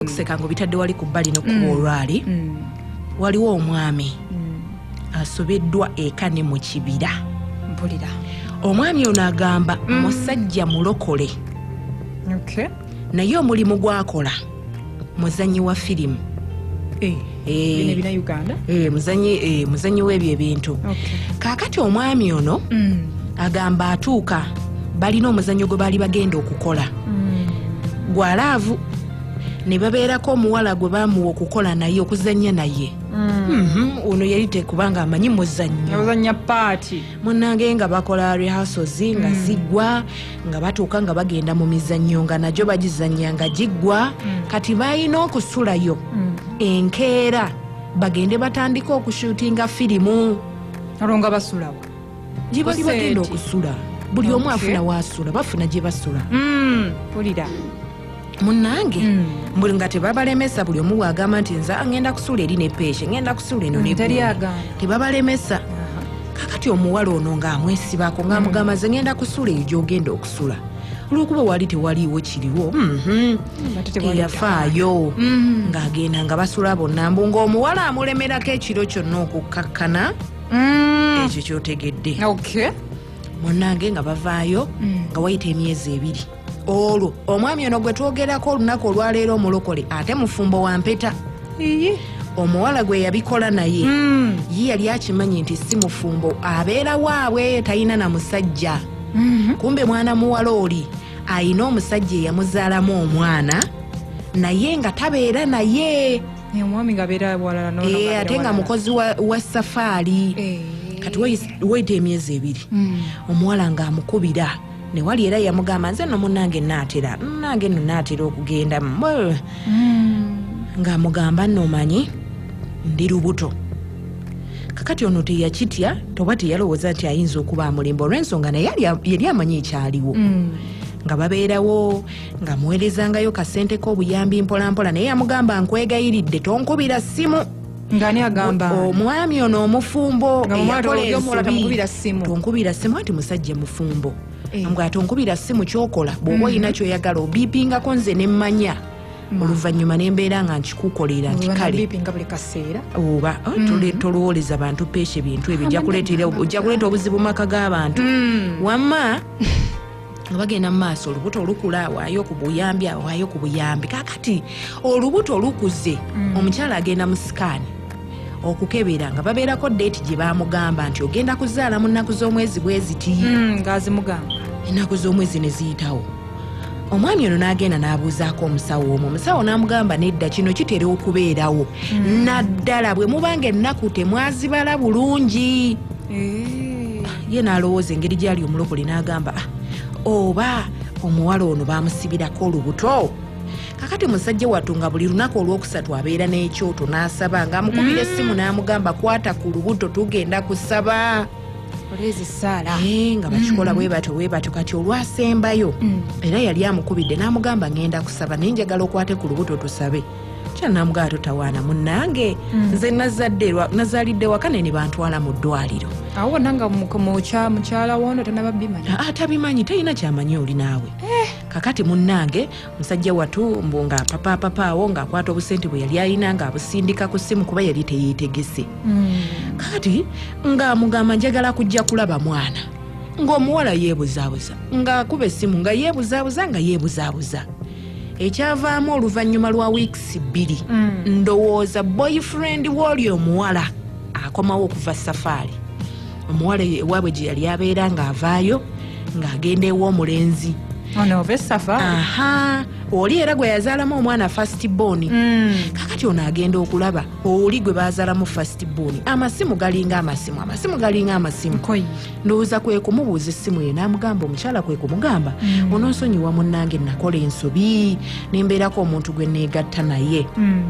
okuseka nga obitadde wali ku bbali nokuba mm. olwali mm. waliwo omwami mm. asobeddwa eka ne mu kibira mpulira omwami ono agamba mm. musajja mulokole okay. naye omulimu gwakola muzanyi wa firimu hey. Eh. Eh. Bino ebina uganda Eh, muzanyi eh, muzanyi w'ebyo ebintu okay. kaakati omwami ono mm. agamba atuuka balina omuzannyo gwe baali bagenda okukola mm. gwa laavu ne babeerako omuwala gwe baamuwa okukola naye okuzannya naye mm. mhm, ono yali tekubanga amanyi muzannyo munange nga bakola rehasozi nga mm. zigwa nga batuuka nga bagenda mu mizannyo nga nagyo bagizannya nga giggwa mm. kati balina okusulayo mm. enkeera bagende batandika okushutinga firimu olwo nga basulawo gyebali bagenda okusula buli omu afuna wasula bafuna gye basula mm, pulira munange mm. mbuli nga tebabalemesa buli omu bwagamba nti nze ngenda kusula eri nepeeshe ngenda kusula eno mm, tebabalemesa kakati omuwala ono ngaamwesibako ngaamugamba mm. ze ngenda kusula eyo gyogenda okusula olwokuba wali tewaliiwo kiriwo mhm. teyafaayo mm. ngaagenda nga basula bonna mbu ngaomuwala amulemerako ekiro kyonna okukkakkana ekyo kyotegedde munange nga bavaayo nga wayita emyezi ebiri olwo omwami ono gwe twogerako olunaku olwaleero omulokole ate mufumbo wa mpeta omuwala gwe yabikola naye hmm. ye yali akimanyi nti si mufumbo abeera waabwe talina na musajja mhm. kumbe mwana muwala oli alina omusajja eyamuzaalamu omwana naye nga tabeera naye omwami nga abeera walala eh, ate nga mukozi wa safaari eh. kati weyita emyezi ebiri hmm. omuwala ng'amukubira newali era yamugamba nze no munange naatera nange no naatera okugenda ng'amugamba nomanyi ndi lubuto kakati ono teyakitya toba teyalowooza nti ayinza okuba amulimba olw'ensonga naye yali amanyi ekyaliwo mm. nga babeerawo nga muweerezangayo kasente k'obuyambi mpolampola naye yamugamba nkwegayiridde tonkubira ssimu ngani agamba omwami ono omufumbo eyakola simu tonkubira simu anti musajja mufumbo eh. mbwa tonkubira simu kyokola bwoba mm. olina kyoyagala obipingako nze nemmanya mm. oluvannyuma nembeera nga nkikukolera nti kale oba oh, mm. tolwoleza bantu peesha ebintu ebyo ojja kuleeta obuzibu maka g'abantu wamma nga bagenda mu maaso olubuto olukula awaayo ku buyambi awaayo ku buyambi kakati olubuto olukuze mm. omukyala agenda mu sikaani okukebera nga babeerako deeti gye bamugamba nti ogenda kuzaala mu nnaku z'omwezi bweziti mm, ngaazimugamba ennaku z'omwezi ne ziyitawo omwami ono n'agenda n'abuuzaako omusawo omu omusawo n'amugamba nedda kino kitera okubeerawo mm. naddala bwe mubanga ennaku temwazibala bulungi eh. ye n'alowooza engeri gyali omulokole n'agamba ah, oba omuwala ono bamusibirako olubuto kakati musajja wattu nga buli lunaku olwokusatu abeera n'ekyoto n'asaba ng'amukubira mm. essimu n'amugamba kwata ku lubuto tugenda kusaba Eh, nga bakikola mm. bwebatyo bwebatyo kati olwasembayo mm. era yali amukubidde n'amugamba ngenda kusaba naye njagala okwate ku lubuto tusabe kyanamugaba totawaana munange hmm. nze nazalidde waka naye nebantwala mu ddwaliro awo wona nga mukyala wono tanababimanya ah, ah, tabimanyi talina kyamanyi oli naawe eh. kakati munange musajja watu mbu nga papapapa awo ngaakwata obusente bwe yali alina ngaabusindika ku simu kuba yali teyetegese hmm. kati ngaamugamba njagala kujja kulaba mwana ngaomuwala yebuzabuza ngaakuba esimu nga yebuzabuza nga yebuzabuza ekyavaamu oluvannyuma lwa wiikisi bbiri mm. ndowooza boyfriend wooli omuwala akomawo okuva safaari omuwala ewaabwe gye yali abeera ng'avaayo ng'agenda ew'omulenzi aha oli era gwe yazaalamu omwana fast bon mm. kakati ono agenda okulaba oli gwe bazaalamu fast bon amasimu galinga amasimu amasimu galinga amasimu ndowooza kwe kumubuuza essimu ye n'amugamba omukyala kwe kumugamba mm. ononsonyiwa munnange nakola ensobi nembeerako omuntu gwe neegatta naye mm.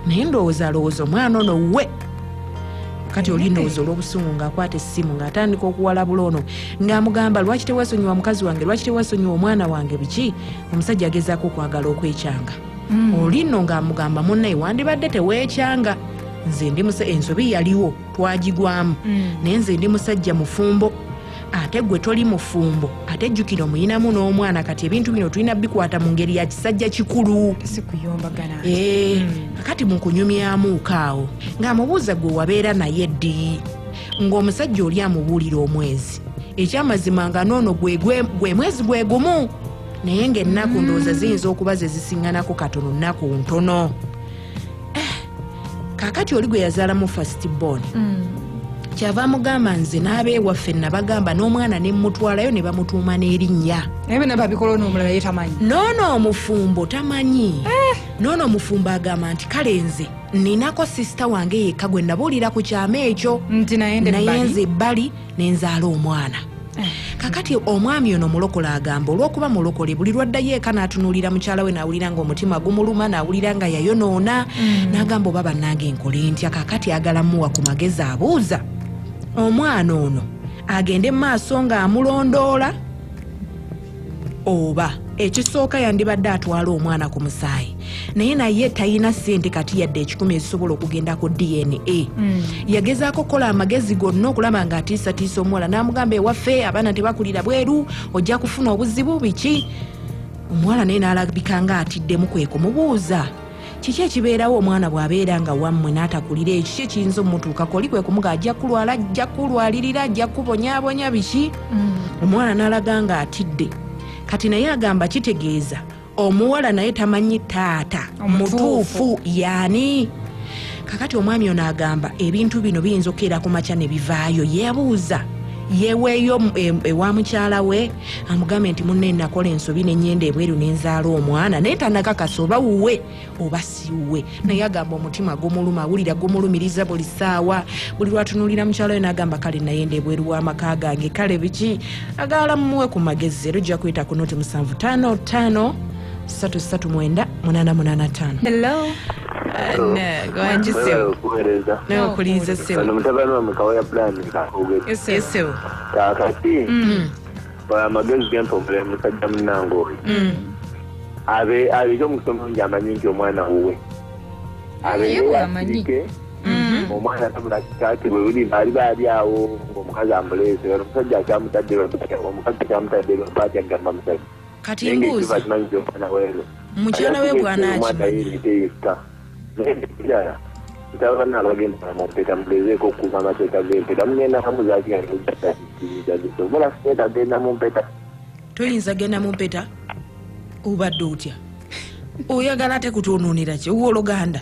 naye ndowooza alowooza omwana ono we kati oli ndowooza olw'obusungu ng'akwata essimu ng'atandika okuwalabula ono ng'amugamba lwaki tewasonyiwa mukazi wange lwaki tewasonyiwa omwana wange biki omusajja agezaako okwagala okwekyanga mm. oli nno ng'amugamba munnaye wandibadde teweekyanga nze ndi muse ensobi yaliwo twagigwamu mm. naye nze ndi musajja mufumbo ate gwe toli mufumbo ate jjukira omuyinamu n'omwana kati ebintu bino tulina bikwata mu ngeri ya kisajja kikulu eh, mm. kati mukunyumyamuuko awo ng'amubuuza gwe wabeera naye ddi ng'omusajja oli amubuulira omwezi ekyamazima nga noono gwe mwezi gwe gumu naye ng'ennaku ndowooza ziyinza okuba ze zisiŋŋanako katono nnaku ntono eh, kakati oli gwe yazaala mu first born mm. kyava amugamba nze n'aba ewaffe nabagamba n'omwana ne mmutwalayo ne bamutuuma n'erinnya noono omufumbo tamanyi eh. noono omufumbo agamba nti kale nze ninako sisita wange yekka gwe nabuulira ku kyama ekyo naye nze ebbali nenzaala omwana eh. kakati omwami ono mulokole agamba olwokuba mulokole buli lwaddayo eka natunulira mukyala we nawulira nga omutima gumuluma nawulira nga yayonoona mm. nagamba oba banange nkole ntya kakati agala muwa ku magezi abuuza omwana ono agende mu maaso nga amulondoola oba ekisooka yandibadde atwala omwana ku musaayi naye naye talina sente kati yadde ekikumi ezisobola okugenda ku dna mm. yagezaako okukola amagezi gonna okulaba nga atiisatiisa omuwala n'amugamba ewaffe abaana tebakulira bweru ojja kufuna obuzibu biki omuwala naye n'alabika nga atiddemu kwe kumubuuza kiki ekibeerawo omwana bw'abeera nga wammwe n'atakulira ekyo ki ekiyinza omutuukako oli kwe kumuga ajja kulwala ajja kulwalirira ajja kubonyabonya biki mm. omwana n'alaga nga atidde kati naye agamba kitegeeza omuwala naye tamanyi taata mutuufu yaani kakati omwami ono agamba ebintu bino biyinza okukeera ku makya ne bivaayo yebuuza yeweeyo ewa mukyala we amugambe nti munne nakola ensobi nenyenda ebweru nenzaala omwana naye tanakakasa oba wuwe oba siwuwe naye agamba omutima gumuluma awulira gumulumiriza buli saawa buli lwatunulira mukyalo yo nagamba kale nayenda ebweru wamaka gange kale biki agala mumuwe ku magezi era ojja kuyita ku noti musanvu tano tano satu satu mwenda munana munana tano hello gwanjiseo nokulinza seo kaakati mm. amagezi gempomula emusajja munange oyo mm. abe abege omusomo ngi amanyi nti omwana wuwe abeewamanyi Mm-hmm. omwana tabula kitaati bwe buli baali baali awo ngaomukazi amuleese era omusajja akyamutadde omukazi akyamutadde lwapaati agamba musajja kati mbuuzi mukyala we bwanaakimanya Ekirala nsaba banna abagenda mu mpeta mugezeeko okukuuma amateeka g'empeta mugenda kamu zakigaobola sente agenda mu mpeta toyinza genda mu mpeta obadde otya oyagala ate kutwonoonera ki owoluganda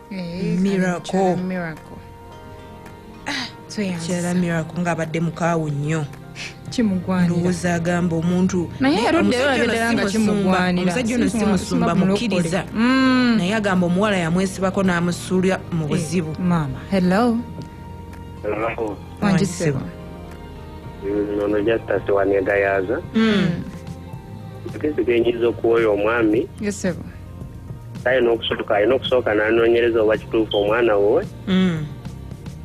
Eh, miracle miracle ah, kyala miracle nga abadde mukaawu nnyo ndowooza agamba omuntu omusajja ono si musumba mukkiriza mm. naye agamba omuwala yamwesibako n'amusuulira mu eh, buzibu wangisibwa mm, ono justus wanegayaaza mm. kisigenyiriza okuwoya omwami kale n'okusooka alina okusooka n'anoonyereza oba kituufu omwana wuwe mm.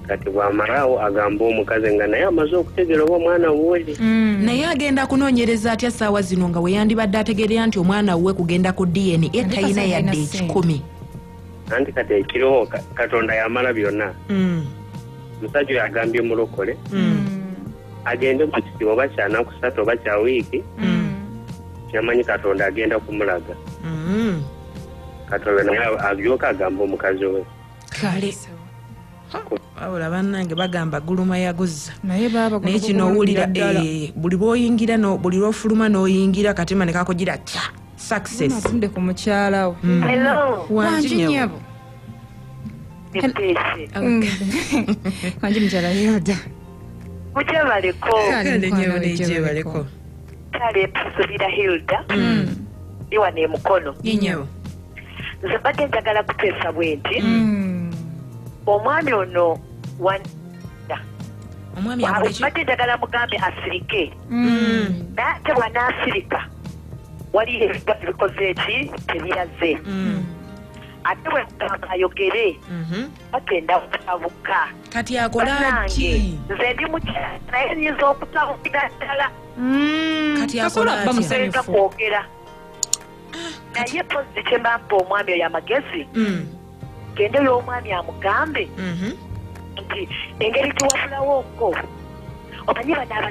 kati bw'amalaawo agamba omukazi nga naye amaze okutegeera oba omwana wuwe mm. naye agenda kunoonyereza atya ssaawa zino nga weyandibadde ategeerera nti omwana wuwe kugenda ku dna e talina yadde ekikumi anti kati ekiriho katonda yamala byonna mm. omusajja oyo agambye omulokole agende mu kisibo oba kyanakusatu oba kya wiiki kyamanyi katonda agenda kumulaga mm. katonda naye agyoka agamba omukazi we kale wabula banange bagamba guluma yaguzza naye kino owulira eh, buli lwoyingira buli lwofuluma noyingira katima nekakugira kya successnde ku mukyalawo mm. wanjinyabo mm. wanji mukyala yoda mujebaleko kale tusubira hilda mm. iwa nemukono inyo nze mbadde njagala kuteesa bwe nti mm. omwami ono mbadde njagala mugambe asirike mm. naye ate bwanaasirika waliyo ebiba bikoze eki tebiraze ate bwemugamba ayogere mm-hmm. bagenda kutabuka kati akola ki nze ndi mukyala naye nyinza okutabukira ddala mm, kati akola atya kwogera ah, naye pozi kyemampa omwami oyo amagezi mm. gende y'omwami amugambe mm-hmm. nti engeri tiwafulawo ko omanyi banaaba